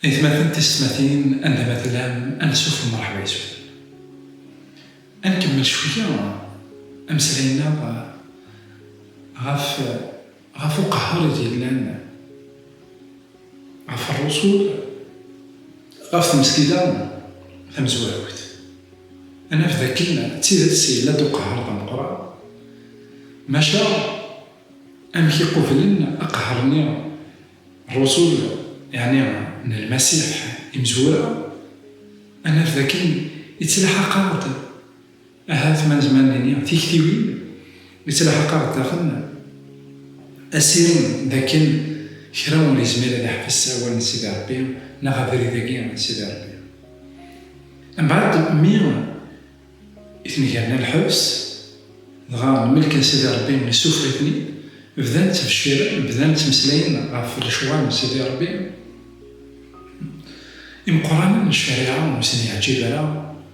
Aytmaten tiysetmatin anda ma tellam ansuf mṛeḥba yes-wen. Ad nkemmel cwiyya ameslay-nneɣ ɣef. Ɣef uqehher i d-yellan ɣef rrusul ɣef tmesgida tamezwarut, ad naf d akken d tidet yella-d uqehher d ameqqran, maca amek i qublen aqehher-nni rrusul, yeɛni n Lmasiḥ, imezwura, ad naf d akken ittelḥaq-aɣ-d. Ahat ma nezmer ad nini tiktiwin yettlḥaq-aɣ d daxel asirem d akken kra ur yezmir ad iḥbes awal n Sidi Rebbi neɣ abrid-agi n Sidi Rebbi. Mbeɛd mi i ten-gerna lḥebs, dɣa lmelk n Sidi Rebbi yessufeɣ-iten-id, bdan ttbecciren, bdan ttmeslayen ɣef lecɣal n Sidi Rebbi. Imeqqranen n ccariɛa ur sen-yeɛǧib ara.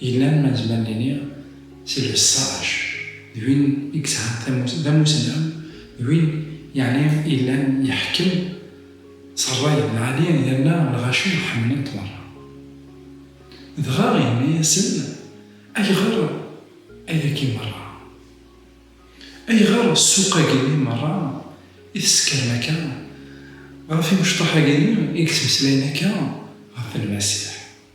Yellan ma nezmer nini si lbessac d win i yesɛan tamurt d amussnaw d win yeɛni yellan yeḥkem s rray n lɛali yerna lɣaci ḥemmlen-t merra. Dɣa yenna-yasen, Ayɣer ayagi merra? Ayɣer ssuq-agi-nni merra i tessekrem akka ɣef imecṭaḥ-agi-nni i yettmeslayen akka ɣef Lmasiḥ?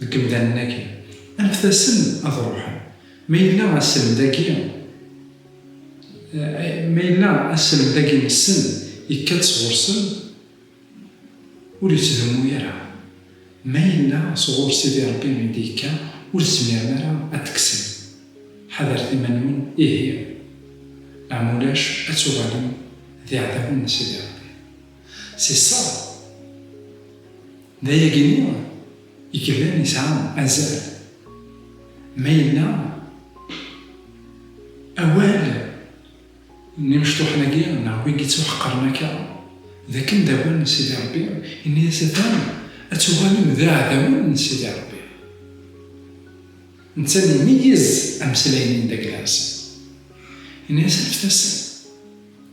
Deg yemdanen-agi, anfet-asen ad ruḥen. Ma yella aselmed-agi ma yella aselmed-agi nessen yekka-d sɣur-sen, ur yettdummu ara. Ma yella sɣur Sidi Rebbi i d-yekka, ur tezmirem ara ad t-tekksem. Ḥadret iman-nwen ihi, neɣ ma ulac ad tuɣalem d iɛdawen n Sidi Rebbi. Si ṣṣeḥ, d ayagi-nni i yellan yesɛa azal. Ma yella awal n imecṭuḥen-agi neɣ win yettuḥeqren akka, d akken d awal n Sidi Ṛebbi, yenna-yas atan ad tuɣalem d iɛdawen n Sidi Ṛebbi. Netta mi imeyyez ameslay-nni n Daglas, yenna-yas anfet-asen.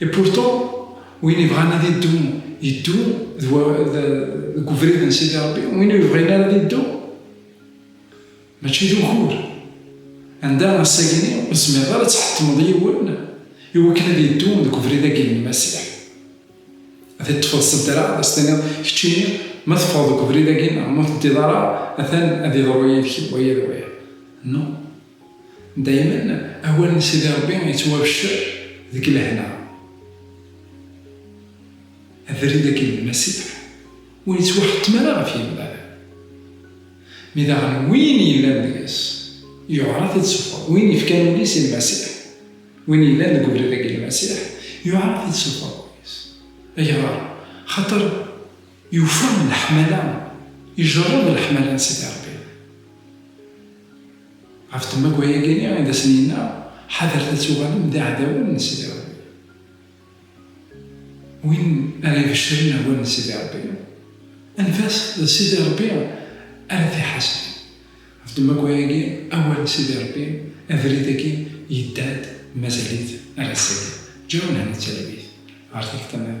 Et pourtant, win ibɣan ad iddu, iddu deg ubrid n Sidi Rebbi, win ur yebɣin ara ad iddu, mačči d ugur. Anda ass-agini ur tezmireḍ ara ad tḥettmeḍ yiwen i wakken ad iddu deg ubrid-agi n Lmasiḥ. Ad t-ṭṭfeḍ s ddreɛ, ad as-tiniḍ, keččini ma teffɣeḍ deg ubrid-agi neɣ ma ur teddiḍ ara, atan ad iḍru yid-k waya d waya. Non. Daymen awal n Sidi Rebbi yettwabeccer deg lehna. Abrid agi n Lmasiḥ ur yettwaḥettem ara ɣef yimal. Mi daɣen win yellan deg-s yuɛer-it ad sufɣen, win yefkan ul-is i Lmasiḥ, win yellan deg ubrid agi n Lmasiḥ yuɛer-it ad sufɣen ul-is. Ayɣer? Xaṭer yufa leḥmala, ijerred leḥmala n Sidi Rebbi. Ɣef temagwa-agi i d asen-yenna, Ḥadret ad tuɣalem d iɛdawen n Sidi Ṛebbi. Win ara ibecren awal n Sidi Ṛebbi, anef-as d Sidi Ṛebbi ara t-iḥaseb. Ɣef temagwa-agi, awal n Sidi Ṛebbi, abrid-agi yedda-d mazal-it ar ass-agi. Ǧǧiɣ Mhenni Talwit ɣer tikta niḍen.